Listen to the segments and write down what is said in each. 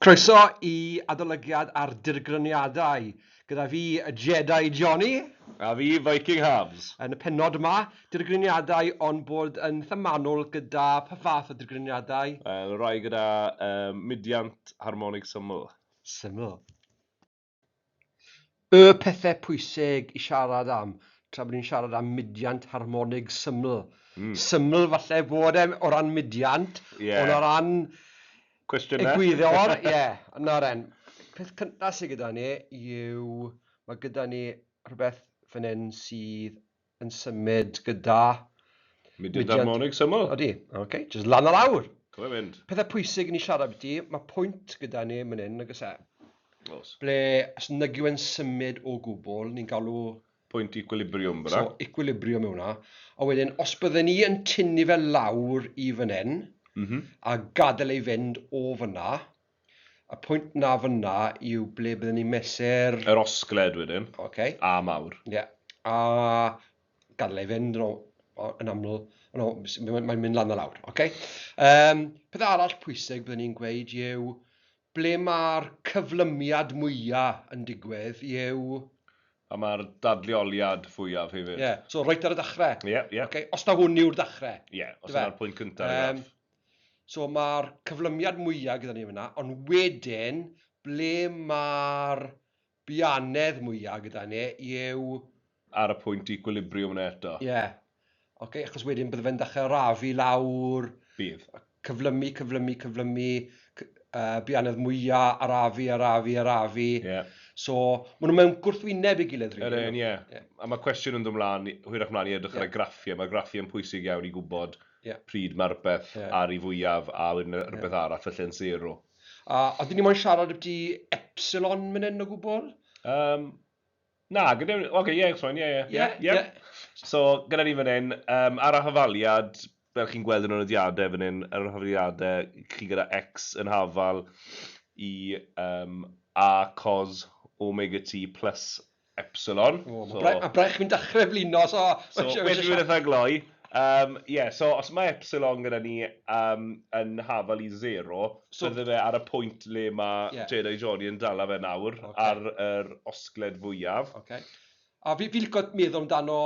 Croeso i Adolygiad ar Dirgryniadau, gyda fi, y Jedi Jonny. A fi, Viking Hafs. Yn y pennod yma, dirgryniadau ond bod yn themanol gyda pa fath o dirgryniadau? Wel, y rhai gyda yy mudiant harmonig syml. Syml. Y pethau pwysig i siarad am tra bod ni'n siarad am mudiant harmonig syml. Syml falle fod e o ran mudiant, ond o ran egwyddor, ie, nawr then, peth cynta sy gyda ni yw, mae gyda ni rhywbeth fan hyn sydd yn symud gyda... Mudiad harmonig syml. Odi, ok, jyst lan a lawr! Co fe fynd. Pethau pwysig i ni siarad ambiti, mae pwynt gyda ni man hyn, nag oes e? Oes. Ble, os nag yw e'n symud o gwbl, ni'n galw... Pwynt equilibrium fan'na. So, equilibrium yw hwnna. A wedyn, os bydden ni yn tynnu fe lawr i fan hyn... M-hm. ...a gadael e i fynd o fan'na... Y pwynt 'na fan'na yw ble bydden ni'n mesur... Yr osgled wedyn. Ocê. A mawr. Ie. A gadael e i fynd, o, o, yn aml, o no, s- m- mae'n mynd lan a lawr. Ocê. Yym, peth arall pwysig bydden i'n gweud yw, ble ma'r cyflymiad mwya yn digwydd yw... A ma'r dadleoliad fwyaf hefyd. Ie. So, reit ar y dachre. Ie, ie. Ocê, os ta hwn yw'r dachre. Ie, os yna'r pwynt cynta'r graff. Yym. So mae'r cyflymiad mwya' gyda ni fan 'na, ond wedyn ble mae'r bianedd mwya' gyda ni yw... Ar y pwynt equilibrium yna eto. Ie. Ocê, achos wedyn bydde fe'n dechre arafu lawr... Bydd. ...cyflymu, cyflymu, cyflymu, cy- yy bianedd mwya', arafu, arafu, arafu... Ie. ...so ma' nhw mewn gwrthwyneb ei gilydd rili. Yr un, ie. Ie. A ma' cwestiwn yn dod mlan, hwyrach mlan i edrych ar y graffiau, ma'r graffiau'n pwysig iawn i gwbod pryd mae rhywbeth ar ei fwyaf a wedyn rhywbeth arall felly yn sero. A oeddwn i moyn siarad ambyty Epsilon myn hyn o gwbl? Um, na, gyda... Oce, okay, ie, yeah, ie, ie. Ie, ie. So, gyda ni fan hyn, um, ar y hafaliad, fel chi'n gweld yn y nodiadau fan hyn, ar y hafaliadau, chi gyda X yn hafal i um, A cos omega T plus Epsilon. O, mae Braich, mae Braich fi'n dechrau blino, so... So, wedyn dwi'n eitha gloi. Um, yeah, so os mae Epsilon gyda ni um, yn hafal i zero, so, bydde fe ar y pwynt le mae yeah. Jedi Johnny yn dala fe nawr, okay. ar yr osgled fwyaf. Okay. A fi, fi licio meddwl amdano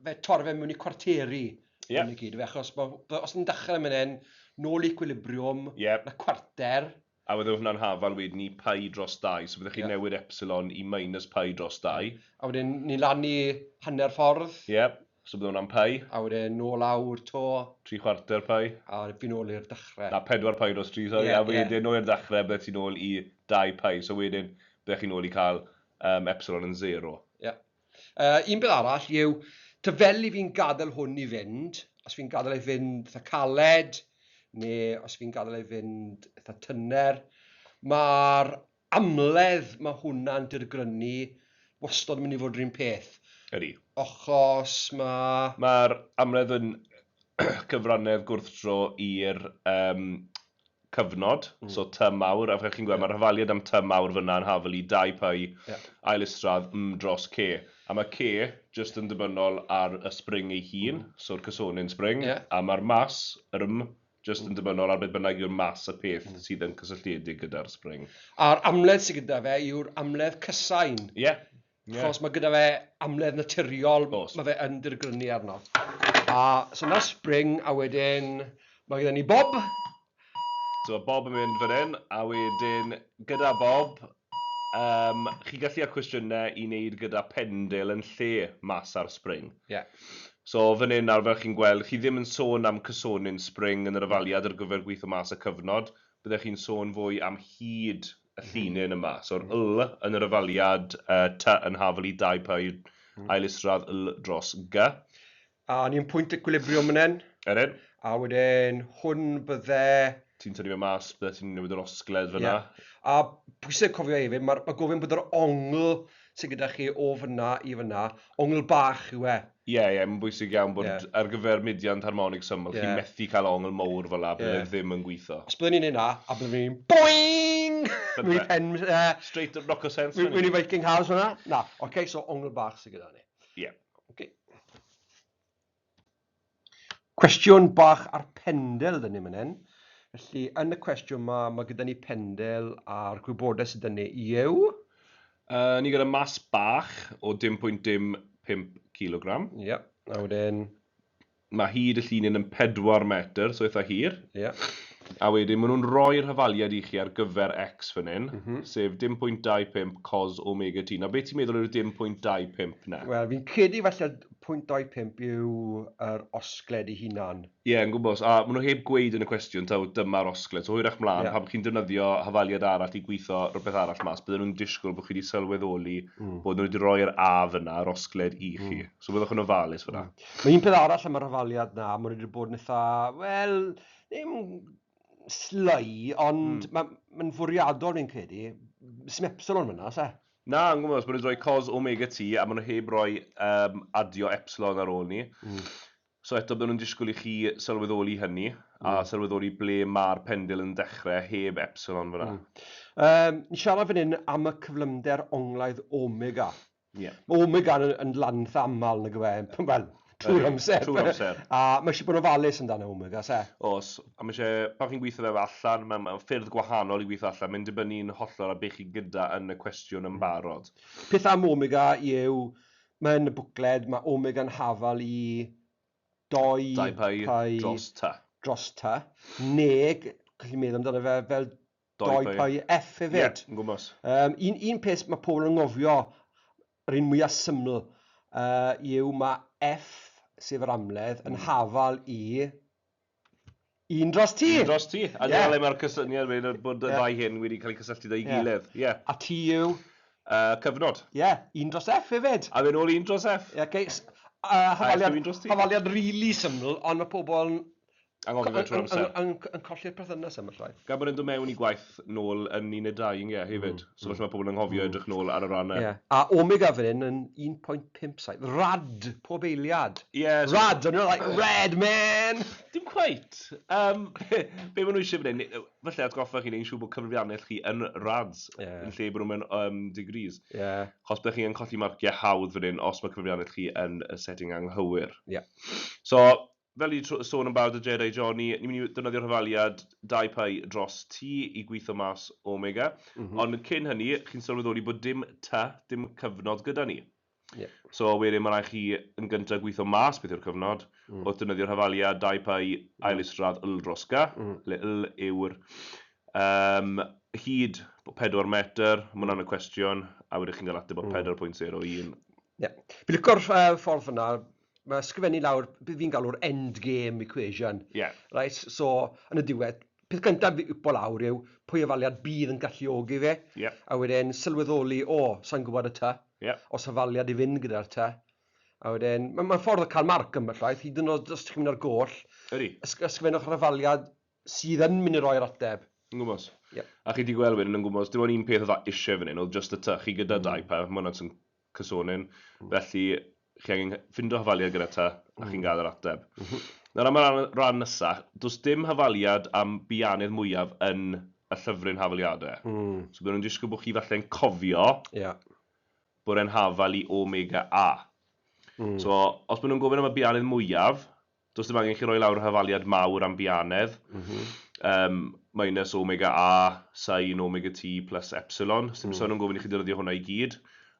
fe torre fe mewn i cwarteri yeah. yn y gyd, fe, achos os ni'n dechrau mynd hyn, nôl i equilibrium, yeah. na cwarter, A wedyn hwnna'n hafal wedyn i pi dros dau, so byddech chi'n newid epsilon i minus pi dros dau. A wedyn ni lan i hanner ffordd. Ie, so bydd hwnna'n pi. A wedyn nôl lawr 'to. Tri chwarter pi. A fi nôl i'r dechrau. Na, pedwar pi dros tri, sori. A wedyn nôl i'r dechrau, byddet ti'n nôl i dau pi. So wedyn byddech chi'n nôl i cael epsilon yn sero. Ie. Yy un peth arall yw, ta fel 'y fi'n gadel hwn i fynd, os fi'n gadel e fynd itha caled, ne' os fi'n gadel e fynd itha tyner, ma'r amledd ma' hwnna'n dirgrynu wastod yn mynd i fod yr un peth. Ydi. Achos ma'... Ma'r amledd yn cyfrannedd gwrthdro i'r yym cyfnod, so tŷ mawr, a fel chi'n gweld, mae'r hafaliad am tŷ mawr fan'na yn hafel i dau py ail isradd mm dros ce. A mae ce jyst yn ddibynnol ar y spring ei hun, so'r cysonyn spring, a mae'r mas, yr mm, jyst yn ddibynnol ar beth bynnag yw'r mas y peth sydd yn cysylltiedig gyda'r spring. A'r amledd sydd gyda fe yw'r amledd cysain. Ie. Ie... Achos ma' gyda fe amledd naturiol... Oes... Ma' fe yn dirgrynu arno. A so 'na Spring a wedyn ma' gyda ni Bob. So ma' Bob yn mynd fan hyn a wedyn gyda Bob yym chi'n gallu cael cwestiyne i neud gyda Pendil yn lle mas ar Spring. Ie. So fan hyn nawr fel chi'n gweld chi ddim yn sôn am cysonyn Spring yn yr ofaliad ar gyfer gweitho mas y cyfnod, byddech chi'n sôn fwy am hyd y llinyn yma. So yr yl yn yr yfaliad, y ty yn hafl i dau py yw ail isradd yl dros gy. A o'n i'n pwynt equilibrium fan hyn. Ydyn. A wedyn hwn bydde... Ti'n tynnu fe mas, bydde ti'n newid yr osgled fyna. Ie. A pwysig cofio hefyd, mae ma gofyn bod yr ongl sydd gyda chi o fyna i fyna, ongl bach yw e. Ie, ie, mae'n bwysig iawn bod ar gyfer mudiant harmonig syml, chi'n methu cael ongl mowr fel 'na, bydd e ddim yn gwitho. Os byddwn ni'n neud 'na, a byddwn ni'n boing! Mewn i pen, yy... Straight up knocker sense fan 'yn. Mewn i Viking House fan 'na? Na, ocê, so ongl bach sydd gyda ni. Ie. Ocê. Cwestiwn bach ar Pendel 'da ni fan hyn. Felly, yn y cwestiwn yma, mae gyda ni Pendel a'r gwybodaeth sydd yn ei yw... Uh, ni gyda mas bach o 10.05 kg. Ie, yeah. a wedyn... Mae hyd y llinin yn 4 metr, so eitha hir. Ie. Yeah. A wedyn, maen nhw'n rhoi'r hyfaliad i chi ar gyfer X fan hyn, mm -hmm. sef 10.25 cos omega t. Na, beth ti'n meddwl yw'r 10.25 na? Wel, fi'n credu falle Pwynt 25 yw yr osgled ei hunan. Ie, yn gwmws. A maen nhw heb gweud yn y cwestiwn taw dyma'r osgled. So hwyrach mlaen, Ie. pan chi'n defnyddio hafaliad arall i gwitho rhywbeth arall mas, bydden nhw'n disgwyl bod chi wedi sylweddoli bod nhw wedi rhoi yr 'a' fan'na, yr osgled, i chi. So byddwch yn ofalus fan'na. Mae un peth arall am yr hafaliad 'na, maen nhw wedi bod yn eitha', wel, ddim sly, ond mae'n fwriadol fi'n credu. Sdim epsilon fan'na, oes e? Na, yn gwybod, os maen nhw'n rhoi cos omega ti, a maen nhw heb roi um, adio epsilon ar ôl ni. Mm. So eto, byddwn nhw'n disgwyl i chi sylweddoli hynny, mm. a sylweddoli ble mae'r pendil yn dechrau heb epsilon fyna. Mm. Um, ni'n siarad fan hyn am y cyflymder onglaidd omega. Yeah. Mae omega yn, yn lanth aml, nag yw e? Wel, trwy'r amser. Trwy'r amser. A mae eisiau bod yn ofalus amdano hwn, I guess, e? Oes, a mae eisiau, pan chi'n gweithio fe allan, mae mae ffyrdd gwahanol i weithio allan, mae'n dibynnu'n hollol ar be chi gyda yn y cwestiwn yn barod. Peth am Omega yw, mae yn y bwcled, mae Omega yn hafal i dou... Dau pau dros ta. ...dros ta, neu, gallu meddwl amdano fe fel Doi Py Ff hefyd. Ie, yn gwmws. Yym, un, un peth ma' pobl yn anghofio, yr un mwya syml, yy, yw ma' Ff, sef yr amledd, yn hafal i un dros T! Un dros T. A dyna le mae'r cysyniad wedyn o bod y ddau hyn wedi cael eu cysylltu 'da'i gilydd. Ie. A T yw? Yy, cyfnod. Ie, un dros Ff hefyd! A wedyn ôl un dros Ff. Ie, oce, s- yy, hafaliad... A Ff yw un dros T. ...hafaliad rili syml, ond ma' pobl yn Anghofio fe trwy'r amser. Yn, yn, yn, yn colli'r perthynas am y llai. Gan bod e'n dod mewn i gwaith nôl yn 12, ie, hefyd. Mm. So felly mae pobl yn anghofio mm. edrych nôl ar y rannau. Ie. A Omega fan hyn yn 1.57. Rad pob eiliad. Ie. Yeah, so... Rad, o'n i'n like, red man! Dim cweit. Um, be, be maen nhw eisiau fan hyn? Felly atgoffa chi'n ein siw bod cyfrifiannell chi yn rads. Yeah. Yn lle bod nhw'n mewn um, degrees. Ie. Yeah. Chos byddwch chi'n colli marciau hawdd fan hyn os mae cyfrifiannell chi yn y setting anghywir. Ie. Yeah. So, Fel fi 'di sôn yn barod 'da Jed a John, ni ni'n mynd i ddefnyddio rhifaliad dau py dros t i gwitho mas omega, ond cyn hynny, chi'n sylweddoli bod dim t, dim cyfnod gyda ni. So wedyn mae'n rhaid chi yn gyntaf gwitho mas beth yw'r cyfnod, wrth ddefnyddio rhifaliad dau py ail isradd yl dros gy, lle yl yw'r yym hyd, pedwar metr, ma' hwnna'n y cwestiwn, a wedyn chi'n cael ateb o pedwar pwynt sero un. Ie. Fi'n licio'r ffordd fan'na, mae ysgrifennu lawr beth fi'n galw'r end game equation. Yeah. Right? So, yn y diwedd, peth gyntaf fi upo lawr yw pwy ofaliad bydd yn galluogi fe, yeah. a wedyn sylweddoli, o, oh, sa'n gwybod y ta, yeah. os ofaliad i fynd gyda'r ta. A wedyn, mae'n ma ffordd o cael marc yma llaeth, hyd yn oed os ti'n mynd ar goll, ysgrifennwch yr ofaliad sydd yn mynd i roi'r ateb. Yn gwmws. Ie. A chi 'di gweld wedyn yn gwmws, dim ond un peth oedd a isie fan hyn oedd jyst y tŷ. Chi gyda dau plant, ma' hwnna'n swn- cysonyn. Felly, chi angen cy- ffindo hafaliad gyda tŷ a chi'n gael yr ateb. Nawr am y ran ran nesa, does dim hafaliad am bianydd mwyaf yn y llyfryn Hafaliade. So bydden nhw'n disgwyl bod chi falle'n cofio Ie. bod e'n hafal i Omega A. So, os maen nhw'n gofyn am y bianydd mwyaf, Does dim angen i chi roi lawr hafaliad mawr am bianedd. Yym, minus omega A, sin omega T plus epsilon. Sdim sôn yn gofyn i chi ddefnyddio hwnna i gyd.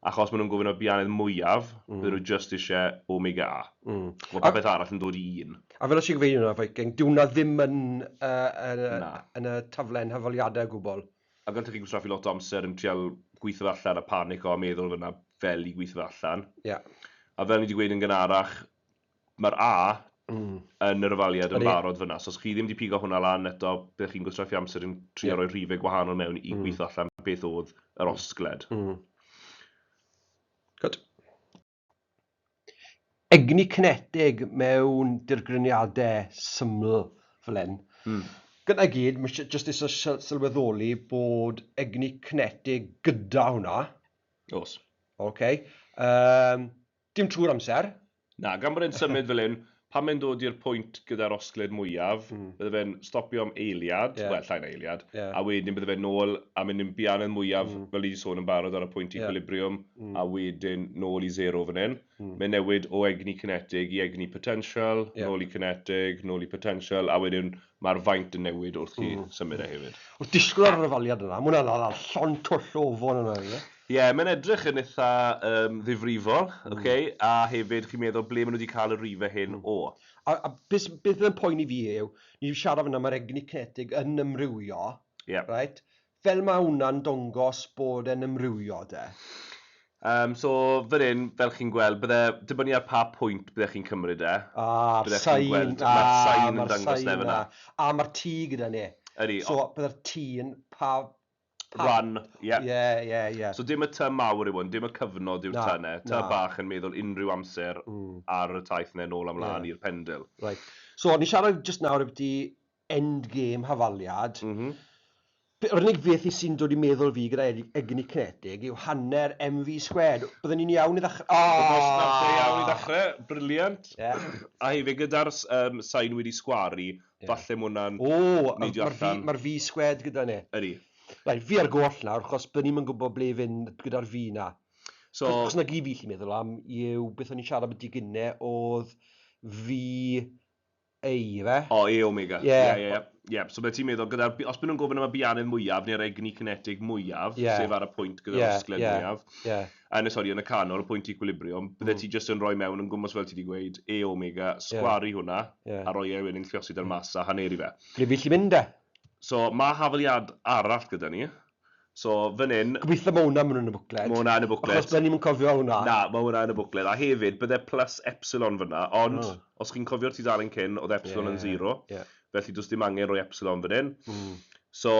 Achos maen nhw'n gofyn am bianedd mwyaf, bydden nhw jyst isie omega A. Mae popeth arall yn dod i un. A fel oes ti'n cyfeirio arno Viking, dyw hwnna ddim yn yn y taflen hafaliadau o gwbl. Ac allwch chi gwastraffu lot o amser yn trial gweithio fe allan a panico a meddwl fod 'na fel i gweithio fe allan. Ie. A fel ni 'di gweud yn gynharach, Mae'r A yn yr ofaliad yn barod fan'na, so os chi ddim 'di pigo hwnna lan eto, byddech chi'n gwastraffu amser yn trio rhoi rhifau gwahanol mewn i gweithio allan beth oedd yr osgled. Gwd. Egni cinetig mewn dirgryniadau syml fel hyn. Gyda i gyd, mae eisiau jyst eisiau sylweddoli bod egni cinetig gyda hwnna. Oes. Ocê. Yym. Dim trwy'r amser. Na, gan bod e'n symud fel hyn, pan mae'n dod i'r pwynt gyda'r osgled mwyaf, bydde fe'n stopio am eiliad, wel, llai na eiliad, a wedyn bydde fe'n nôl a mynd i'n bianedd mwyaf, fel ni 'di sôn yn barod, ar y pwynt equilibrium, a wedyn nôl i sero fan hyn. Mae'n newid o egni cinetig i egni potential, nôl i cinetig, nôl i potential, a wedyn Mae'r faint yn newid wrth chi symud e hefyd. Wrth disgwyl ar yr ofaliad yna, mae hwnna'n hala llond twll o ofon yna i fe. Ie, mae'n edrych yn eitha ddifrifol, ok, a hefyd chi'n meddwl ble maen nhw 'di cael y rhifau hyn o. A be fydd yn poeni fi yw, ni 'di siarad fan'na, mae'r egni cinetig yn ymrywio, reit, Fel ma wna'n dongos bod e'n ymrywio 'de. Yym so fan hyn, fel chi'n gweld, bydde, dibynnu ar pa pwynt bydde chi'n cymryd e, A'r bydde chi'n sain, gweld, a ma'r sain yn ma'r dangos sain 'na fan 'na. 'na. A ma'r T gyda ni. Ydi, So ond bydde'r T yn pa, pa... Rhan, ie. Ie, ie, ie. So dim y T mawr yw hwn, dim y cyfnod yw'r Na, T 'na. T na. bach yn meddwl unrhyw amser ar y taith 'na nôl a mlaen Ie. i'r pendil. Reit. So ni'n siarad jyst nawr ambyti endgame hafaliad. Yr unig beth fi sy'n dod i meddwl fi gyda egni cinetig yw hanner MV squared. Bydden ni'n iawn i ddechrau? O! Wrth gwrs, nawr lle iawn i ddechrau. Briliant. A hefyd gyda'r sain wedi sgwaru, falle mae hwnna'n neidio allan. O! Mae'r V squared gyda ni. Ydy. Reit, fi ar y goll nawr, achos bydden ni'm yn gwybod ble i fynd gyda'r V 'na. Achos 'na gyd fi'n gallu meddwl am yw beth o'n ni'n siarad ambiti gynne oedd V Eire. O, E omega. Ie. Ie, ie, ie. Ie, so byddet ti'n meddwl, gyda, os bydden nhw'n gofyn am y biannydd mwyaf, neu'r egni cinetig mwyaf, Ie. sef ar y pwynt gyda'r Ie, osgled ie, mwyaf, ie. a yn y, sori, yn y canol, y pwynt equilibrium, byddet ti jyst yn rhoi mewn yn gwmws fel ti wedi gweud, E omega, sgwaru hwnna, Ie. a rhoi e wedyn, llosgi da'r mas a haneri fe. Ble fi'n gallu mynd e? So, mae hafaliad arall gyda ni. So, fan hyn... Gobeithio mae hwnna mewn yn y bwcled. Mae hwnna yn y bwcled. Achos byddwn ni'n cofio hwnna. Na, mae hwnna yn y bwcled. A hefyd, byddai plus epsilon fyna, ond oh. os chi'n cofio'r tudalen cyn, oedd epsilon yeah, yn zero. Yeah. Felly, does dim angen rhoi epsilon fan hyn. Mm. So,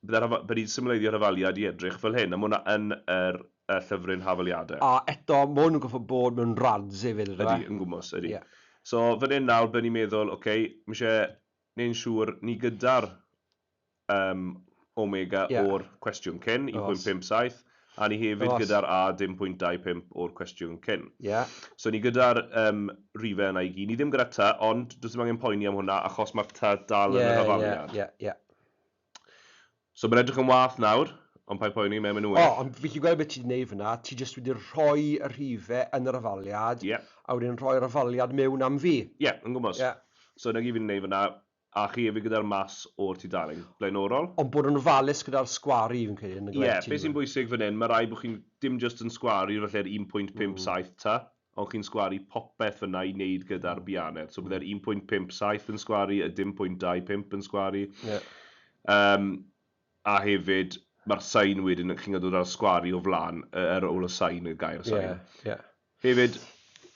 byddwn ni'n symleiddio'r hyfaliad i edrych fel hyn, a mae hwnna yn yr y llyfryn hafaliadau. A eto, mae hwn yn goffa bod mewn rads hefyd. Ydy, e? yn gwmwys, ydy. Yeah. So, fan hyn nawr, byddwn ni'n meddwl, oce, okay, mae eisiau neu'n siŵr ni gyda'r Yym, omega o'r cwestiwn cyn, 1.57, a ni hefyd gyda'r a 0.25 o'r cwestiwn cyn. So ni gyda'r yym rhifau yna i gyd. Ni ddim gyda ty, ond does dim angen poeni am hwnna achos mae'r ty dal yn yr hafaliad. Ie, ie, ie. So mae'n edrych yn wath nawr, ond paid poeni, mae'n mynd yn well. O, ond fi'n gallu gweld beth ti 'di wneud fan'na, ti jyst wedi rhoi y rhifau yn yr hafaliad, a wedyn rhoi'r hafaliad mewn am fi. Ie, yn gwmws. So 'na gyd fi'n wneud fan'na. A chi efyd gyda'r mas o'r tu darlun, blaenorol. Ond bod yn ofalus gyda'r sgwari fi'n credu yn y gweddi. Ie, be sy'n bwysig fan hyn, mae rhaid bod chi'n dim jyst yn sgwari falle'r 1.57 ta, ond chi'n sgwari popeth fan'na i wneud gyda'r bianed. So bydde'r 1.57 yn sgwari, y 0.25 yn sgwari. Ie. Yym, a hefyd, mae'r sain wedyn, chi'n gwybod o ran sgwari o flaen, yy ar ôl y sain, y gair sain. Ie, ie. Hefyd,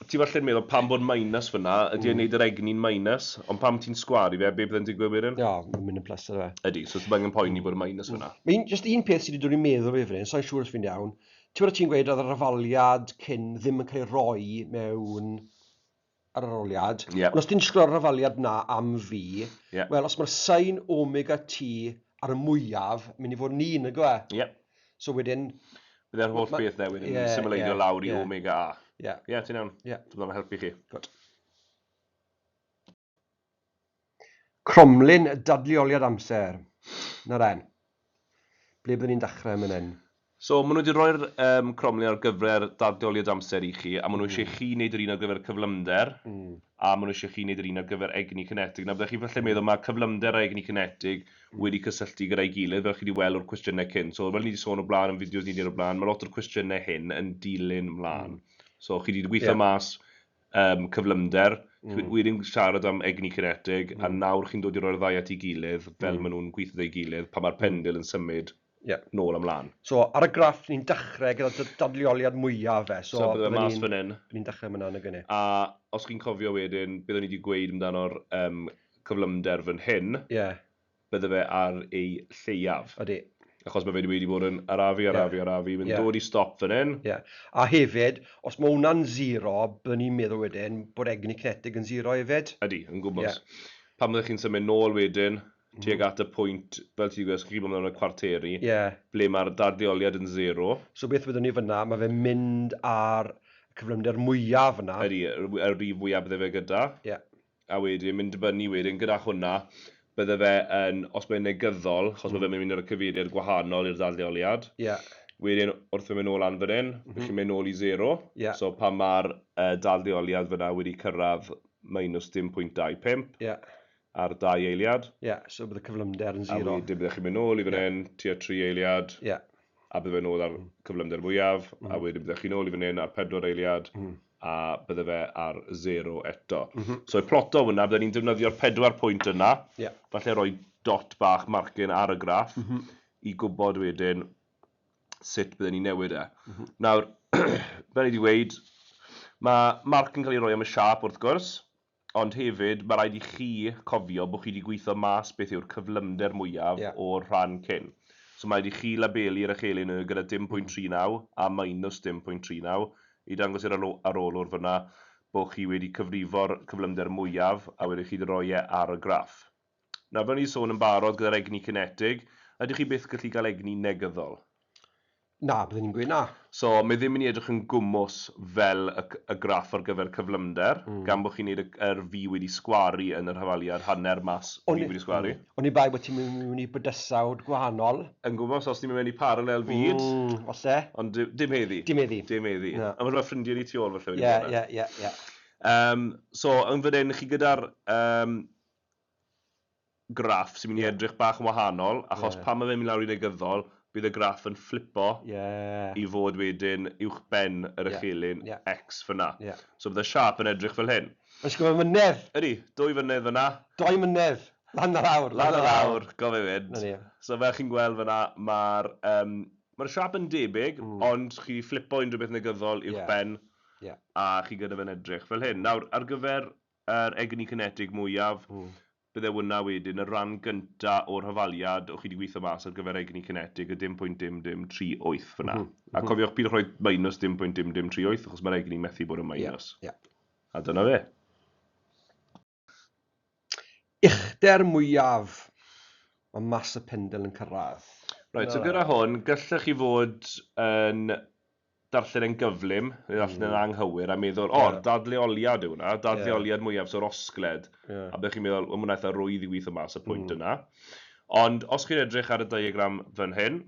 ti falle yn meddwl, pam bod minus fyna, ydy e'n neud yr egni'n minus, ond pam ti'n sgwaru fe, be bydde'n digwydd wedyn? Ie, mae'n mynd yn plus ar fe. Ydy, so ddim angen poeni bod y minus fyna. Mae un, jyst un peth sydd wedi dod i'n meddwl fi fan hyn, sai'n siŵr os fi'n iawn, ti'n gwybod ti'n gweud oedd yr afaliad cyn ddim yn cael ei roi mewn yr arholiad. Yep. Ond os ti'n sgwrio'r rafaliad na am fi, yep. wel, os mae'r sain omega ti ar y mwyaf, mynd i fod yn un, nag yw e? Yep. So wedyn... Byddai'r holl beth dde wedyn yeah, symleidio yeah, lawr i yeah. omega A. Ie. Yeah. Ie, yeah, ti'n iawn. Yeah. Dwi'n helpu chi. Good. Cromlin dadleoliad amser. Na then. Ble byddwn ni'n dechrau man hyn? So, maen nhw wedi rhoi'r yym cromlin ar gyfer dadleoliad amser i chi, a maen nhw eisiau i chi wneud yr un ar gyfer cyflymder, a maen nhw eisiau i chi wneud yr un ar gyfer egni cinetig. Nawr, byddech chi falle meddwl, mae cyflymder a egni cinetig wedi cysylltu gyda'i gilydd, fel chi wedi weld o'r cwestiynau cynt. So, fel ni wedi sôn o'r blaen yn fideos ni wedi wneud o'r blaen, mae lot o'r cwestiynau hyn yn dilyn mlaen. So, chi wedi gweithio mas yym cyflymder. Chimod, wi 'di siarad am egni cinetig, a nawr chi'n dod i roi'r ddau at ei gilydd, fel maen nhw'n gweithio 'da'i gilydd, pan mae'r pendil yn symud nôl a mlaen. So, ar y graff, ni'n dechrau gyda dy dadleoliad mwya fe. So, bydden ni'n... So, bydde fe mas fan hyn. Ni'n dechrau fan'na, nag y'n ni? A os chi'n cofio wedyn, beth o'n i 'di gweud amdano'r yym cyflymder fan hyn. Ie. bydde fe ar ei lleiaf. Odi. Achos mae fe wedi bod yn arafu, arafu, yeah. arafu, mae'n yeah. dod i stop fan hyn. Yeah. A hefyd, os mae hwnna'n zero, byddwn ni'n meddwl wedyn bod egni cinetig yn zero hefyd. Ydy, yn gwybod. Yeah. Pan byddwch chi'n symud nôl wedyn, mm. tuag at y pwynt, fel ti'n gwybod, chi'n gwybod y cwarteri, yeah. ble mae'r darddeoliad yn zero. So beth byddwn ni fyna, mae fe'n mynd ar cyflymder mwyaf yna. Ydy, y rif fwyaf bydde fe gyda. Yeah. a wedyn mynd i fyny wedyn gyda hwnna, bydde fe yn, os mae'n negyddol, achos mae fe'n mynd i roi cyfeiriad gwahanol i'r ddadleoliad. Ie. Wedyn, wrth fynd nôl lan fan hyn, rych chi'n mynd nôl i sero. Ie. So pan mae'r ddadleoliad fan'na wedi cyrraedd minus dim pwynt dau pump ar dau eiliad. Ie, so bydd y cyflymder yn sero. A wedyn byddech chi'n mynd nôl i fan hyn, tua tri eiliad, a bydd fe'n nôl ar cyflymder mwyaf, a wedyn byddech chi'n nôl i fan hyn ar pedwar eiliad. a bydde fe ar zero eto. So i ploto hwnna, bydden ni'n defnyddio'r pedwar pwynt yna, falle rhoi dot bach marcyn ar y graff i gwybod wedyn sut bydden ni'n newid e. Nawr, fel ni 'di weud, ma' marc yn cael ei roi am y siâp wrth gwrs, Ond hefyd, mae rhaid i chi cofio bod chi wedi gweithio mas beth yw'r cyflymder mwyaf o'r rhan cyn. So mae rhaid i chi labelu Rachele Nuhr gyda dim pwynt tri naw a minus dim pwynt tri naw i dangos i'r arolwr fan'na bod chi wedi cyfrifo'r cyflymder mwyaf a wedyn chi 'di roi e ar y graff. Nawr, fel o'n i 'di sôn yn barod gyda'r egni cinetig, ydych chi byth yn gallu cael egni negyddol? Na, byddwn i'n gweud na. So, mae ddim yn edrych yn gwmws fel y y graff ar gyfer cyflymder, gan bod chi'n neud y yr V wedi sgwaru yn yr hafaliad, hanner mass V wedi sgwaru. Oni bai bod ti'n mynd mewn i bydysawd gwahanol. Yn gwmws, os ti'n mynd mewn i parallel fyd. Mm, falle. Ond dim dim heddi. Dim heddi. Dim heddi. Na. Ond mae ffrindiau ni tu ôl falle wedi bod yna. Ie, ie, ie, ie. Yym, so, yn fan hyn, chi gyda'r yym graff sy'n mynd i edrych bach yn wahanol, achos pan mae fe'n mynd lawr i negyddol, bydd y graff yn fflipo i fod wedyn uwchben yr echelin X fan'na. So bydd y siâp yn edrych fel hyn. Mae'n disgwyl fy mynedd! Ydy, dwy fynedd fan'na. Doi mynedd! Lan a lawr, lan a lawr! Lan a lawr, go fe fynd. 'Na ni. So fel chi'n gweld fan'na, mae'r yym, mae'r siâp yn debyg, ond chi fflipo unrhyw beth negyddol uwchben a chi gyda fe'n edrych fel hyn. Nawr, ar gyfer yr egni cinetig mwyaf, bydde hwnna wedyn, y rhan gynta o'r hafaliad o'ch chi 'di gwitho mas ar gyfer egni cinetig, y dim pwynt dim dim tri wyth fanna. A cofiwch peidiwch rhoi minus dim pwynt dim dim tri wyth, achos mae'r egni methu bod yn minus. A dyna fe. Uchder mwyaf mae mas y pendil yn cyrraedd. Reit, so gyda hwn, gallech chi fod yn darllen e'n gyflym, neu ddarllen e'n anghywir, a meddwl, o, dadleoliad yw hwnna, dadleoliad mwyaf, so'r osgled, a byddwch chi'n meddwl, wel, mae hwnna eitha rwydd i weithio mas y pwynt yna. Ond os chi'n edrych ar y diagram fan hyn,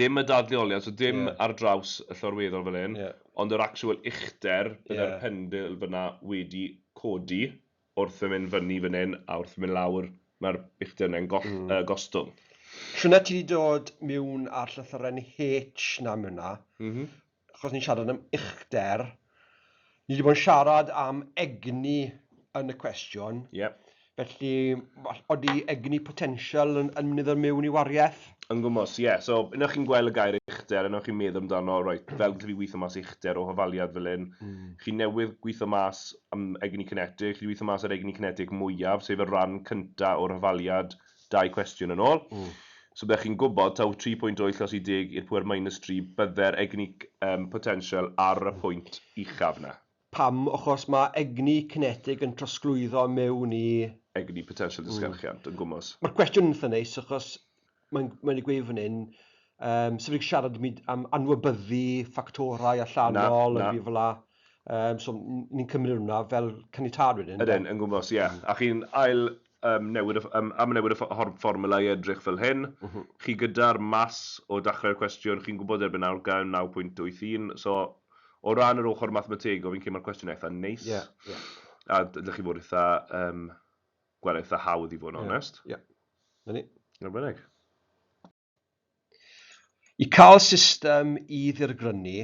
dim y dadleoliad, so dim ar draws y llorweddol fan hyn, ond yr actual uchder, byddai'r pendil fyna wedi codi. wrth fy mynd fyny fan hyn a wrth fy mynd lawr, mae'r uchdynnau'n gostwng. Shwt na ti wedi dod miwn ar llythyren H na miwn na, achos ni'n siarad am uchder, ni wedi bod yn siarad am egni yn y cwestiwn, felly odi egni potensial yn mynd i ddod miwn i wariaeth? Yn gwmws, ie. So, unwaith chi'n gweld y gair uchder, unwaith chi'n meddwl amdano, reit, fel gallaf fi weithio mas uchder o hafaliad fel hyn, chi newydd gweithio mas am egni cinetig, chi 'di gweithio mas ar egni cinetig mwyaf, sef y ran cynta o'r hafaliad dau cwestiwn yn ôl. So byddech chi'n gwybod taw tri pwynt wyth os i deg i'r pŵer minus tri bydde'r egni yym potensial ar y pwynt uchaf 'na. Pam? Achos ma' egni cinetig yn trosglwyddo mewn i... Egni potensial disgyrchiant yn gwmws. Ma'r cwestiwn yn itha neis achos Mae'n mae wedi gweud fan hyn, um, sef wedi siarad am anwybyddu ffactorau allanol, na, na. fel la. Um, so ni'n cymryd hwnna fel canitad wedyn. Ydyn, yn gwmwys, ie. Yeah. Mm. A chi'n ail um, newid, um, am newid y fformula i edrych fel hyn. Mm -hmm. Chi gyda'r mas o dachrau'r cwestiwn, chi'n gwybod erbyn nawr gael 9.81, so o ran yr ochr mathematego, fi'n credu mae'r cwestiwn eitha neis. Yeah, yeah. A ydych chi fod eitha um, gweld eitha hawdd i fod yn onest. Ie, na ni. Yn bynnag. I cael system i ddirgrynu,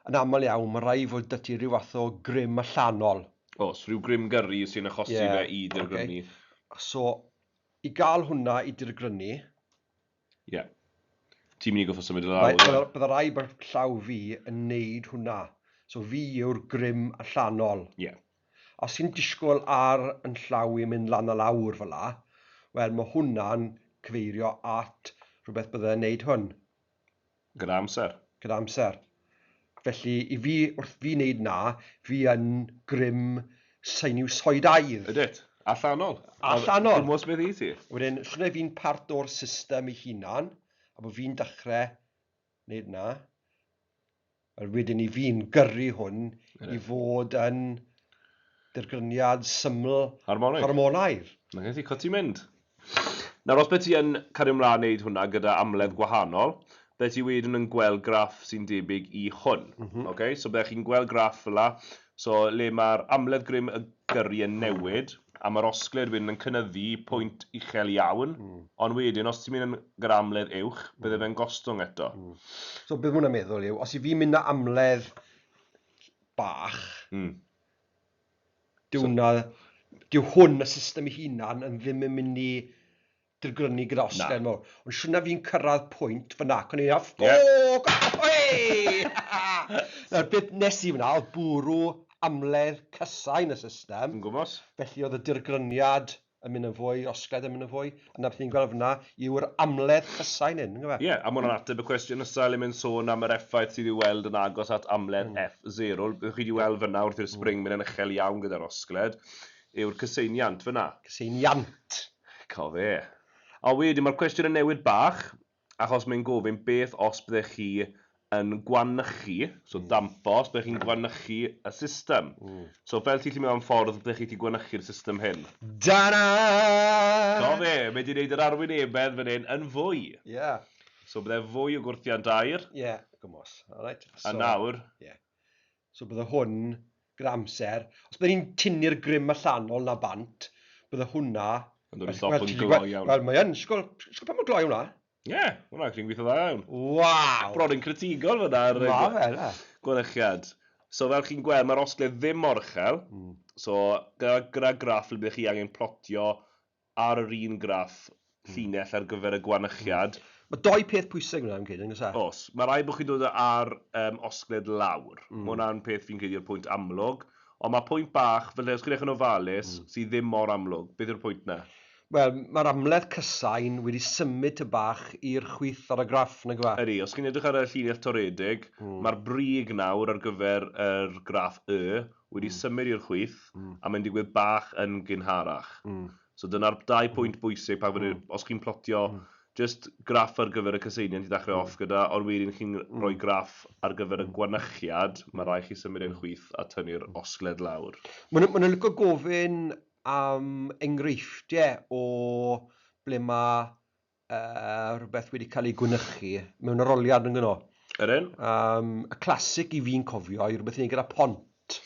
yn aml iawn mae rhaid fod 'da ti ryw fath o grym allanol. Oes, rhyw grym gyrru sy'n achosi fe i ddirgrynu. So, i gael hwnna i dirgrynu, Ie. Yeah. Ti'n mynd i goffo symud i lawr. Bydda rhaid bod llaw fi yn neud hwnna. So fi yw'r grym allanol. Ie. Yeah. Os ti'n disgwyl ar yn llaw i'n mynd lan a lawr fel la, wel mae hwnna'n cyfeirio at rhywbeth bydda yn neud hwn. Gyda amser. Gyda amser. Felly, i fi, wrth fi wneud 'na, fi yn grym seinwsoidaidd. Wyt. Allanol. Allanol. Dim ots beth i ti. Wedyn, llunai fi'n part o'r system ei hunan, a bod fi'n dechrau wneud 'na. Wel, wedyn i fi'n gyrru hwn i fod yn dirgryniad syml... Harmonaidd. ...harmonaidd. 'Na ti, cwt ti'n mynd. Nawr os be ti yn cario mlaen neud hwnna gyda amledd gwahanol, be ti wedyn yn gweld graff sy'n debyg i hwn. Ok, so bydde chi'n gweld graff fela, so le mae'r amledd grym y gyrru yn newid, a mae'r osgled wedyn yn cynyddu i pwynt uchel iawn, ond wedyn os ti'n mynd yn gyda amledd uwch, bydde fe'n gostwng eto. So be ma hwnna'n meddwl yw, os i fi'n mynd â amledd bach, Dyw 'na... Dyw hwn, y system ei hunan, yn ddim yn mynd i dirgrynu gyda Oscar... Na. ...mawr. Ond siwrna fi'n cyrraedd pwynt fan'na ac o'n i'n meddwl, ffwc! Ffwc! Eei! Nawr, beth wnes i fan'na oedd bwrw amledd cysau yn y system... Yn gwmws. ...felly oedd y dirgryniad yn mynd yn fwy, osgaidd yn mynd yn fwy, a na beth ni'n gweld fyna yw'r amledd ffysau nyn, yn gyfe? Ie, a mwna'n ateb y cwestiwn nesaf le mae'n sôn am yr effaith sydd i'w weld yn agos at amledd F0, beth chi wedi weld fyna wrth i'r spring mynd yn uchel iawn gyda'r osgled, yw'r cyseiniant fyna. Cyseiniant! Co fe. A wedyn mae'r cwestiwn yn newid bach, achos mae'n gofyn beth os byddech chi yn gwanychu, so dampo, os byddech chi'n gwanychu y system. So fel ti'n gallu meddwl am ffordd byddech chi wedi gwanychu'r system hyn? Ta-da! Do fe, mae wedi gwneud yr arwynebedd fan hyn yn fwy. Ie. So byddai fwy o gwrthiant aer. Ie, gwmws. Alright, so... A nawr... Ie. So bydde hwn gyda amser, os bydde ni'n tynnu'r grym allanol 'na bant, bydde hwnna... Yn dod i stop yn gloi iawn. Wel, mae yn, sgol, sgol pa mor gloi yw hwnna? Ie, hwnna, chi'n gweithio dda iawn. Waw! Bron yn critigol fyna ar y... Ma fe, na. ...golychiad. So fel chi'n gweld, mae'r osgledd ddim mor uchel, so gyda, gyda graff ble byddech chi angen plotio ar yr un graff, llinell ar gyfer y gwanychiad. Mae dou peth pwysig yna fi'n credu, yn oes e? Oes. Mae rhaid bod chi'n dod â'r um, osgled lawr. Mm. Mae hwnna'n peth fi'n credu yw'r pwynt amlwg. Ond mae pwynt bach, fel os chi'n eich yn ofalus, mm. sydd ddim mor amlwg. Beth yw'r pwynt na? Wel, mae'r amledd cysain wedi symud ty bach i'r chwith ar y graff, nag yw e? Ydy, os chi'n edrych ar y llinell toredig, mm. mae'r brig nawr ar gyfer yr graff Y, wedi symud i'r chwith a mae'n digwydd bach yn gynharach. So dyna'r dau pwynt bwysig pan fydde... os chi'n plotio jyst graff ar gyfer y cyseiniant i ddechrau off gyda, ond wedyn chi'n rhoi graff ar gyfer y gwanychiad, mae'n rhaid i chi symud e'n chwith a tynnu'r osgled lawr. Maen nhw'n licio gofyn am enghreifftiau o ble mae uh, rhywbeth wedi cael ei gwynychu mewn aroliad yn gyno. Yr un? Um, y clasic i fi'n cofio i rhywbeth i wneud gyda pont.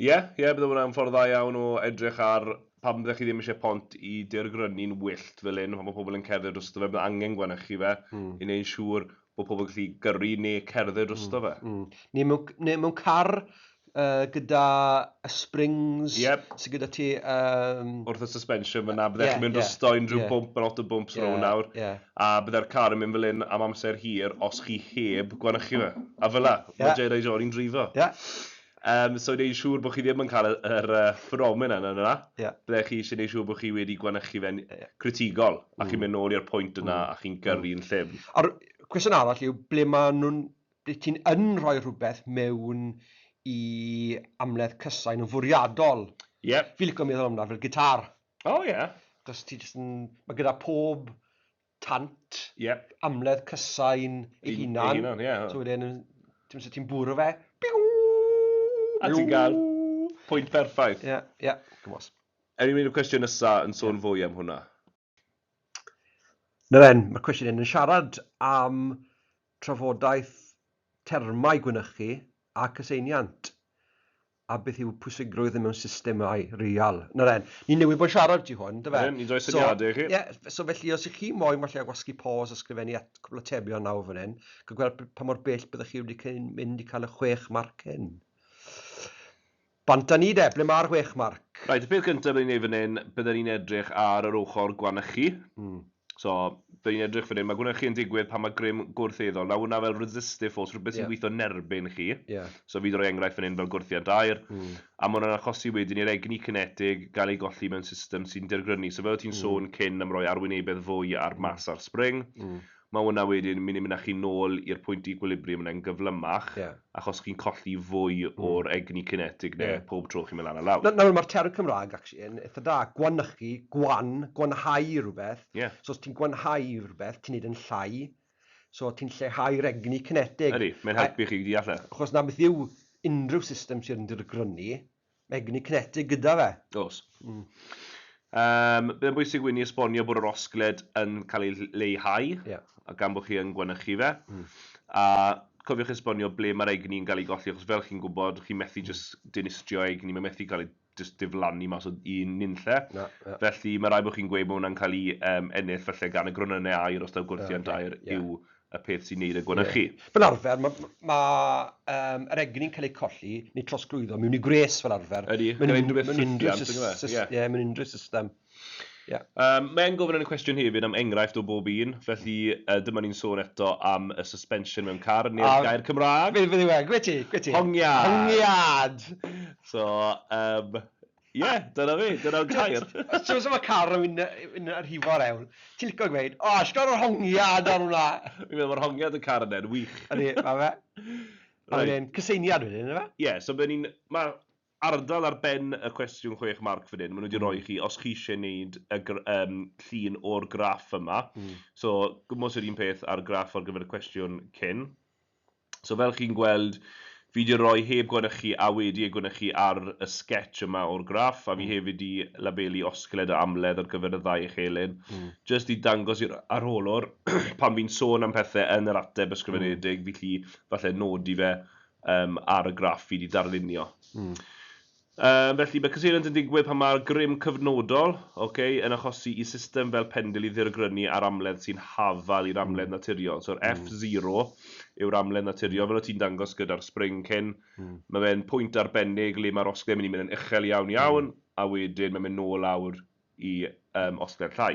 Ie, yeah, ie, yeah, bydd hwnna'n ffordd dda iawn o edrych ar pa byddech chi ddim eisiau pont i deirgrynu'n wyllt fel un, pan mae pobl yn cerdded dros y fe, bydd angen gwanychu fe, mm. i wneud siŵr bod pobl yn gallu gyrru neu cerdded drosto fe. Neu mewn car gyda y springs sydd gyda ti... Wrth y suspension fan'na, byddech chi'n mynd drosto unrhyw bump a lot o bumps rownd nawr, a byddai'r car yn mynd fel hyn am amser hir os chi heb gwanychu fe. A fel'na, mae Jedi John yn dreifo. Yym, so neud yn siŵr bod chi ddim yn cael y- yr yy ffenomenon yna yna, Ie. ble chi isie neud siŵr bod chi wedi gwanychu fe'n critigol, a chi'n mynd nôl i'r pwynt yna a chi'n gyrru'n llym. A'r cwestiwn arall yw, ble ma' nhw'n, ble ti'n yn rhoi rhywbeth mewn i amledd cysain yn fwriadol? Ie. Fi'n lico meddwl amdano fel gitar. O ie. Achos ti jyst yn, ma' gyda pob tant, amledd cysain ei hunan, so wedyn ti'n ti'n bwrw fe, biw! A ti'n cael pwynt perffaith. Ie, ie, gwmws. Ewn ni mynd i'r cwestiwn nesa yn sôn fwy am hwnna. Na fe'n, mae'r cwestiwn hyn yn siarad am trafodaeth termau gwynychu a cyseiniant. a beth yw pwysigrwydd e mewn systemau real. Na ren, ni newydd bod yn siarad ti hwn, dy fe? Ren, ni'n rhoi syniadau i chi. Ie, so felly, os ych chi moyn falle gwasgu pause a sgrifennu at cwbl o tebion nawr fan hyn, cael gweld pa mor bell byddwch chi wedi mynd i cael y chwech marc hyn. Bant â ni de, ble mae'r chwech marc? Right, y peth gyntaf byddwn ni'n ei fan hyn, byddwn ni'n edrych ar yr ochr gwanychu. Mm. So, dyn ni'n edrych fan hyn, mae gwneud chi yn digwydd pan mae grym gwrth-eiddo. Nawr hwnna fel resistive force, rhywbeth sy'n gweithio yn erbyn chi. So, fi droi enghraifft fan hyn fel gwrthiant aer. A mae hwnna'n achosi wedyn i'r egni cinetig gael ei golli mewn system sy'n dirgrynu. So, fel o ti'n sôn cyn am roi arwynebedd fwy ar mass ar spring, mae hwnna wedyn mynd i mynd â chi nôl i'r pwynt equilibrium yna yn gyflymach. achos chi'n colli fwy o'r egni cinetig 'na pob tro chi'n mynd lan a lawr. Nawr, mae'r term Cymraeg actually yn eitha da, gwanychu, gwan, gwanhau rhywbeth. So os ti'n gwanhau rhywbeth, ti'n neud yn llai, so ti'n lleihau'r egni cinetig. Ydy, mae'n helpu chi i allu. Achos 'na beth yw unrhyw system sydd yn dirgrynu, Egni cinetig gyda fe. Oes. Yym, bydd e'n bwysig i ni esbonio bod yr osgled yn cael ei leihau gan bod chi yn gwanychu fe. A cofiwch esbonio ble mae'r egni yn cael ei golli, achos fel chi'n gwybod, chi'n methu jyst dinistrio egni, mae'n methu cael ei jyst diflannu mas o un nunlle. Felly, mae'n rhaid bod chi'n gweud bod hwnna'n cael ei ennill falle gan y gronynnau aer, os taw gwrthiant aer yw y peth sy'n neud y gwanychu. Ie. Fel arfer, ma' ma' ma' yym yr egni'n cael eu colli neu trosglwyddo mewn i gwres fel arfer. Ydi, gyda unrhyw beth ffrithiant yndyw e? Ie. Ie, mewn unrhyw system. Ie. Yym, mae e'n gofyn yn y cwestiwn hefyd am enghraifft o bob un, felly yy dyma ni'n sôn eto am y suspension mewn car, neu'r A- gair Cymraeg... Beth yw e? Gwe ti, gwe ti. Hongiad! Hongiad! So, yym, Ie, yeah, dyna fi, dyna'r gair. Ti'n meddwl mae car yn mynd yn rhifo'r ewl. Ti'n licio gweud, o, oh, yr hongiad ar hwnna. Fi'n meddwl mae'r hongiad y car yn e'n wych. Ydy, mae fe. Mae fe'n cyseiniad wedyn, yna fe? Ie, yeah, so fe ni'n... Mae ardal ar ben y cwestiwn chwech marc fan hyn, maen nhw wedi mm. rhoi chi, os chi eisiau gwneud y um, llun o'r graff yma. Mm. So, gwmwys yr un peth ar graff ar gyfer y cwestiwn cyn. So fel chi'n gweld, fi 'di roi heb gwanychu a wedi ei gwanychu ar y sgets yma o'r graff, a fi hefyd 'di labelu osgled a amledd ar gyfer y ddau echelin, jyst i dangos i'r arholwr, pan fi'n sôn am pethe yn yr ateb ysgrifenedig, fi'n gallu falle nodi fe ar y graff fi 'di darlunio. Yym, felly, mae cyseiliant yn digwydd pan mae'r grym cyfnodol, ok, yn achosi i system fel pendil i ddirgrynu ar amledd sy'n hafal i'r amledd naturiol. So'r F zero yw'r amledd naturiol, fel o' ti'n dangos gyda'r spring cyn. Mae fe'n pwynt arbennig le mae'r osgle'n mynd i mynd yn uchel iawn iawn, a wedyn mae'n mynd nôl lawr i, yym, osgled llai.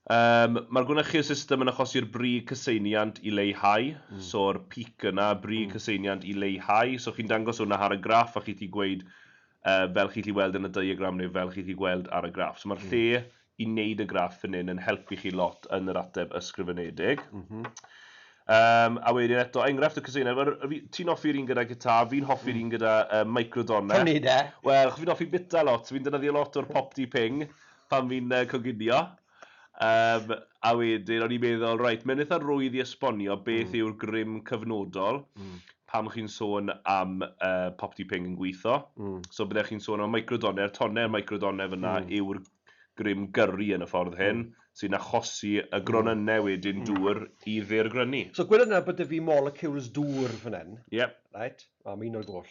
Yym, mae'r gwnychu'r system yn achosi'r brig cyseiniant i leihau, so'r peak yna, brig cyseiniant i leihau, so chi'n dangos hwnna ar y graff a chi'n gallu gweud yy fel chi'n gallu weld yn y diagram neu fel chi'n gallu gweld ar y graff. So mae'r lle i wneud y graff fan hyn yn helpu chi lot yn yr ateb ysgrifenedig. Yym, a wedyn eto, enghraifft o cyseiniant, wel fi... ti'n hoffi'r un gyda gitar, fi'n hoffi'r un gyda yy microdonau. Prynu de! Wel, achos fi'n hoffi bita lot, fi'n defnyddio lot o'r Pop-Dee Ping, pan fi'n yy coginio. Yym, a wedyn o'n i'n meddwl, reit, mae'n eitha rwydd i esbonio beth yw'r grym cyfnodol pan chi'n sôn am yy popty ping yn gwitho. So byddech chi'n sôn am microdonne'r tonne'r microdonne fan'na yw'r grym gyrru yn y ffordd hyn sy'n achosi y gronynnau wedyn dŵr i ddirgrynu. So gwedwch nawr bod 'da fi molecules dŵr fan hyn. Ie. Reit, o, ma' un o'r goll.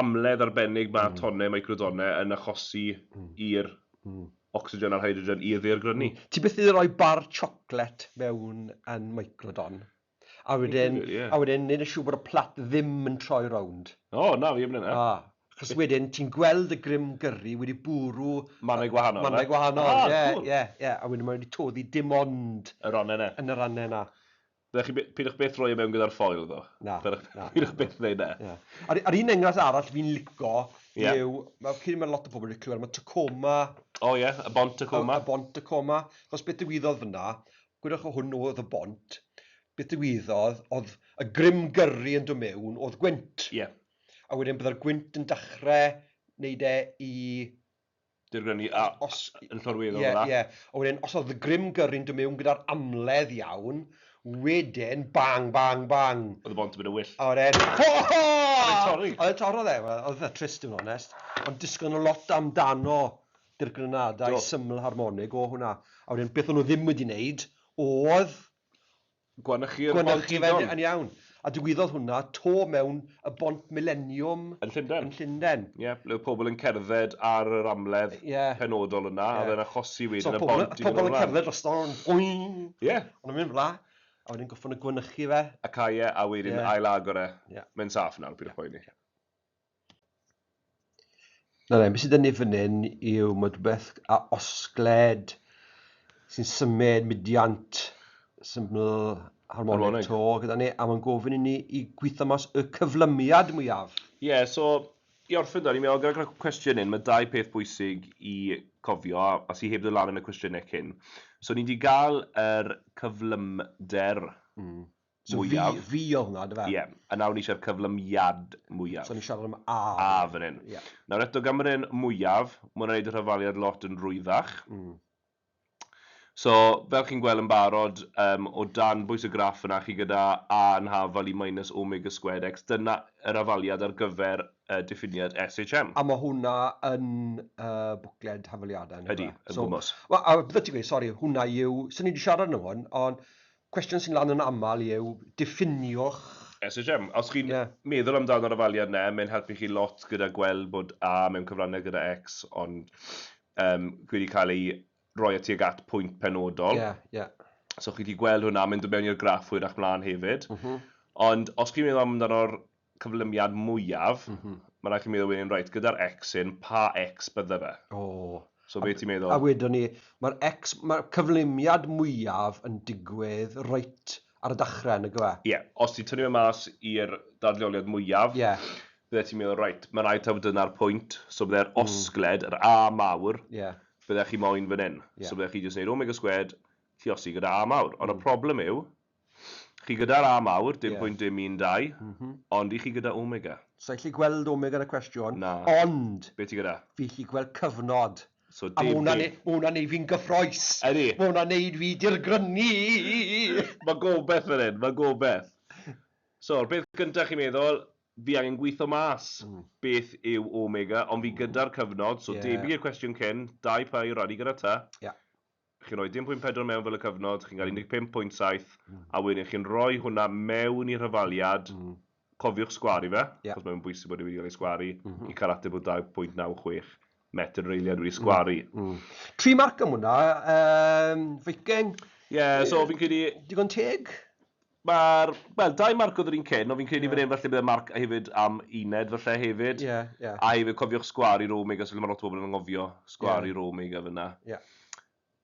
amledd arbennig mae tonnau microdonnau yn achosi i'r ocsigen a'r hydrogen i'r ddaear grynu. Ti byth wedi rhoi bar chocolate mewn yn microdon? A wedyn, a wedyn neud yn siŵr bod y plat ddim yn troi rownd. O, na, fi 'eb neud 'na. Achos wedyn ti'n gweld y grym gyrri wedi bwrw... Mannau gwahanol. Mannau gwahanol, ie, ie, ie. A wedyn mae wedi toddi dim ond... Y rannau 'na. ...yn y rannau 'na. Na, chi by- pidwch byth roi e mewn gyda'r ffoil ddo. Na, Pidwch, na, na, pidwch na. byth wneud na. Na. A'r, a'r un enghraifft arall fi'n lico Ie. yw, mae cyn mae lot o pobl wedi clywed am y Tacoma, O ie, y bont y y, coma. y bont Tacoma, achos beth ddigwyddodd fyna, gwydwch o hwn oedd y bont, beth ddigwyddodd, oedd y grym gyrru yn dod mewn, oedd gwynt, Ie. a wedyn byddai'r gwynt yn dechrau wneud e i Dirgrynu a os yn llorweddol fel 'na. Ie, ie. Ond wedyn os oedd y grym gyrru'n dod mewn gyda'r amledd iawn, wedyn bang, bang, bang! Oedd y bont yn mynd yn wyllt. A wedyn ho ho! Oedd e'n torri? Oedd e'n torri oedd e. Wel, oedd e'n trist i fod yn onest. Ond disgwyl nhw lot amdano dirgrynadau syml harmonig o hwnna. A wedyn beth o'n nhw ddim wedi wneud oedd Gwanychu'r Bont Didon. Gwanychu fe yn yn iawn. A digwyddodd hwnna 'to mewn y Bont Mileniwm... Yn Llundain. ...yn Llundain. Ie, ble oedd pobl yn cerdded ar yr amledd... Ie. ...penodol yna, a oedd e'n achosi wedyn y bont i fynd yn wlad. So oedd pobl yn cerdded drosto fo, boing! Ie. Oedd o'n mynd yn fla, a wedyn gorffon nhw gwanychu fe. A cau e, a wedyn ail-agor e. Ie. Mae'n saff nawr, peidiwch poeni. Na fe, be sydd 'da ni fan hyn yw ma' rwbeth a osgled sy'n symud mudiant syml harmonic to gyda ni, a mae'n gofyn i ni i gweithio mas y cyflymiad mwyaf. Ie, so i orffen 'da, o'n i'n meddwl gyda'r cwestiwn hyn, ma' dau peth bwysig i cofio a sy heb ddod lan yn y cwestiynau cyn. So ni 'di gael yr cyflymder mwyaf. So V, V oedd hwnna, dyfe? Ie, a nawr ni eisiau'r cyflymiad mwyaf. So ni'n siarad am A. A fan hyn. Ie. Nawr eto, gan bod e'n mwyaf, mae hwnna'n gwneud y rhyfaliad lot yn rwyddach. Mm. So, fel chi'n gweld yn barod, um, o dan bwys y graff yna, chi gyda A yn hafal i minus omega squared x, dyna yr afaliad ar gyfer uh, diffiniad SHM. A mae hwnna yn uh, bwcled hafaliadau. Ydy, yn so, gwmwys. A bydde ti'n gweud, sori, hwnna yw, sy'n ni wedi siarad yn hwn, ond Cwestiwn sy'n lan yn aml yw diffinio'ch... SHM. Os chi'n meddwl amdano'r ofaliad yna, mae'n helpu chi lot gyda gweld bod A mewn cyfrannau gyda X ond yym wedi cael ei roi at tuag at pwynt penodol. Ie, ie. So chi'n gallu gweld hwnna, mae'n dod mewn i'r graff hwyrach mlaen hefyd. Ond os chi'n meddwl amdano'r cyflymiad mwyaf, mae'n rhaid i chi meddwl wedyn, reit, gyda'r X hyn, pa X bydde fe? So be ti'n meddwl? A wedwn ni, mae'r X, mae'r cyflymiad mwyaf yn digwydd reit ar y dechrau, nag yw e? Ie, os ti'n tynnu fe mas i'r dadleoliad mwyaf, bydde ti'n meddwl, reit, mae'n rhaid taw fod dyna'r pwynt, so bydde'r osgled, yr A mawr, bydde chi moyn fan hyn. So bydde chi jyst yn gwneud omega squared, lluosi gyda A mawr. Ond y problem yw, Chi gyda'r A mawr, dim pwynt dim un dau, ond i chi gyda Omega? Sa i'n gallu gweld Omega yn y cwestiwn, ond fi'n gallu gweld cyfnod, a ma' hwnna'n neud fi'n gyffrous! Ma' hwnna'n neud fi dirgrynu! Mae gobaith fan hyn, mae gobaith. So, yr peth gynta chi'n meddwl, fi angen gwitho mas beth yw Omega, ond fi gyda'r cyfnod, so debyg i'r cwestiwn cyn, dau pair o radi gyda Ty, chi'n rhoi dim pwynt pedwar mewn fel y cyfnod, chi'n cael 15 pwynt saith, a wedyn chi'n rhoi hwnna mewn i rhyfaliad, cofiwch sgwaru fe, achos mae'n bwysig bod e wedi cael ei sgwaru, i cael ateb o 2.96 metr yr eiliad wedi sgwaru. Tri marc am hwnna, Viking. Ie, so fi'n credu... Digon teg? Mae'r, wel, dau Marc oedd yr un cyn, ond fi'n credu fan hyn falle bydd y Marc hefyd am uned falle hefyd. Ie, ie. A hefyd cofiwch Sgwâr i Rome, achos mae lot o bobl yn anghofio Sgwâr i Rome gyda fan'na. Ie.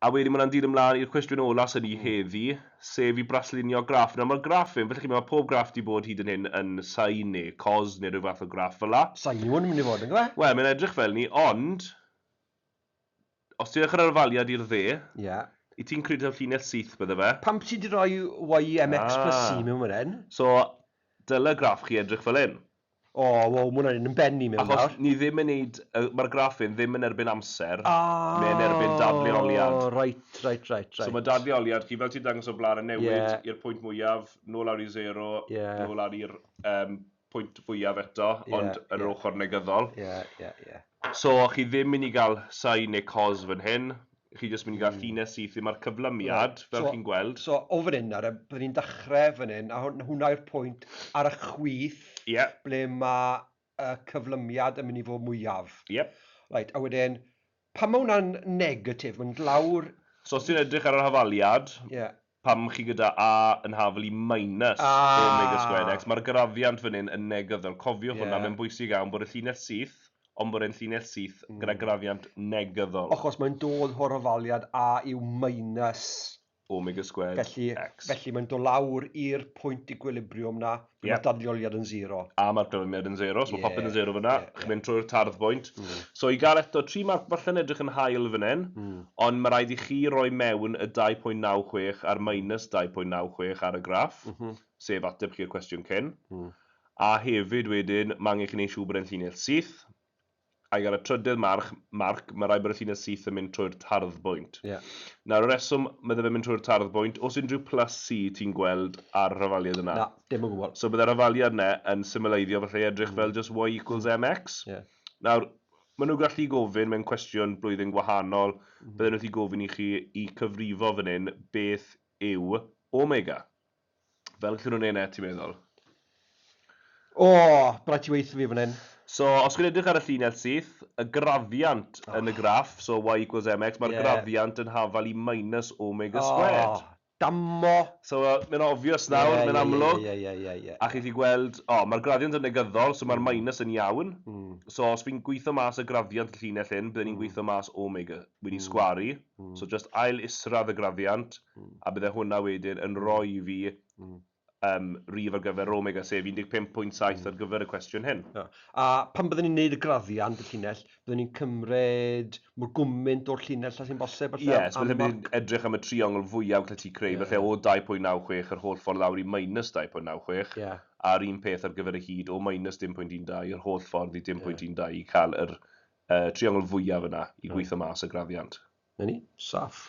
A wedyn mae hwnna'n dilyn mlaen i'r cwestiwn ola sy' 'da ni heddi, sef i braslunio graff. Nawr mae'r graff hyn, fel chi'n gwybod, mae pob graff 'di bod hyd yn hyn yn sain neu cos neu rhyw fath o graff fel 'na. Sain yw hwn yn mynd i fod, yn dyw e? Wel, mae'n edrych fel 'ny, ond... Os ti'n edrych ar yr ofaliad i'r dde, wyt ti'n credu taw llinell syth bydde fe? Pam bo' ti 'di roi YMX plus C mewn fan hyn? So, dyle graff chi edrych fel hyn. O, wow, ma' hwnna'n un yn ben i mewn nawr. Achos ni ddim yn neud, ma'r graff hyn ddim yn erbyn amser, mae e'n erbyn dadleoliad. O, reit, reit, reit. So ma' dadleoliad chi, fel ti'n dangos o'r blaen, yn newid i'r pwynt mwyaf, nôl lawr i zero, nôl lawr i'r yym pwynt fwyaf eto, ond yeah, yr yeah. ochr negyddol. Yeah, yeah, yeah. So, chi ddim mynd i gael sai neu cos fan hyn, chi jyst mynd i gael mm. ffines syth i mae'r cyflymiad, right. fel so, chi'n gweld. So, o fan hyn, ar y, byddwn ni'n dechrau fan hyn, a hwnna yw'r pwynt ar y chwith, yeah. ble mae y cyflymiad yn mynd i fod mwyaf. Yep. Right, a wedyn, Pam mae hwnna'n negatif? Mae'n dlawr. So os ti'n edrych ar yr hafaliad, pam chi gyda A yn hafal i minus omega squared x, mae'r graddiant fan hyn yn negyddol. Cofiwch hwnna, mae'n bwysig iawn bod y llinell syth, ond bod e'n llinell syth gyda graddiant negyddol. Achos mae'n dod o'r hafaliad A yw minus Omega squared felly, X. Felly mae'n dod lawr i'r pwynt equilibriwm na, yep. mae'r dadleoliad yn zero. A mae'r dyfyniad yn zero, so yeah, mae popeth yn zero fyna, yeah, yeah. chi'n mynd trwy'r tardd bwynt. Mm. So i gael eto, tri marc falle yn edrych yn hael fan hyn, mm. ond mae rhaid i chi roi mewn y 2.96 a'r minus 2.96 ar y graff, mm -hmm. sef ateb chi'r cwestiwn cyn. Mm. A hefyd wedyn, mae angen chi'n ei siŵr bod e'n llinell syth, ac ar y trydydd March, Marc, mae rhaid bod y llinell syth yn mynd trwy'r tarddbwynt. Ie. Nawr, y reswm, bydde fe'n mynd trwy'r tarddbwynt, oes unrhyw plus sy ti'n gweld ar y rhafaliad yna? Na, dim o gwbl. So bydde'r rhafaliad yna yn symyleiddio, falle, edrych fel jyst y equals mx. Ie. Nawr, maen nhw'n gallu gofyn mewn cwestiwn blwyddyn gwahanol, bydden nhw'n gallu gofyn i chi i cyfrifo fan hyn beth yw omega. Fel gallwn nhw wneud net, ti'n meddwl? O, rhaid ti weithio fi fan hyn. So, os chi'n edrych ar y llinell syth, y graddiant oh. yn y graff, so y y equals mx, mae'r yeah. graddiant yn hafal i minus omega oh. squared. Dammo! So, uh, mae'n obvious nawr, yeah, mae'n yeah, amlwg. Yeah, yeah, yeah, yeah, A chi chi gweld, o, oh, mae'r graddiant yn negyddol, so mae'r mm. minus yn iawn. Mm. So, os fi'n gweithio mas y graddiant y llinell hyn, byddwn ni'n mm. gweithio mas omega. Wy'n mm. sgwaru. So jyst ail isradd y graddiant a bydde hwnna wedyn yn rhoi i fi yym rif ar gyfer yr omega sef 15.7 ar gyfer y cwestiwn hyn. Ia. A pan bydden ni'n neud y graddiant, y llinell, bydden ni'n cymryd mor gwmynt o'r llinell â sy'n bosib falle? Ie, so falle bydd ni'n edrych am y triongl fwyaf gallet ti creu falle o 2.96 yr holl ffordd lawr i minus 2.96 a'r un peth ar gyfer y hyd o minus 10.12 yr holl ffordd i 10.12 i ca'l yr y triongl fwyaf yna i gweithio mas y graddiant. Na ni, saff.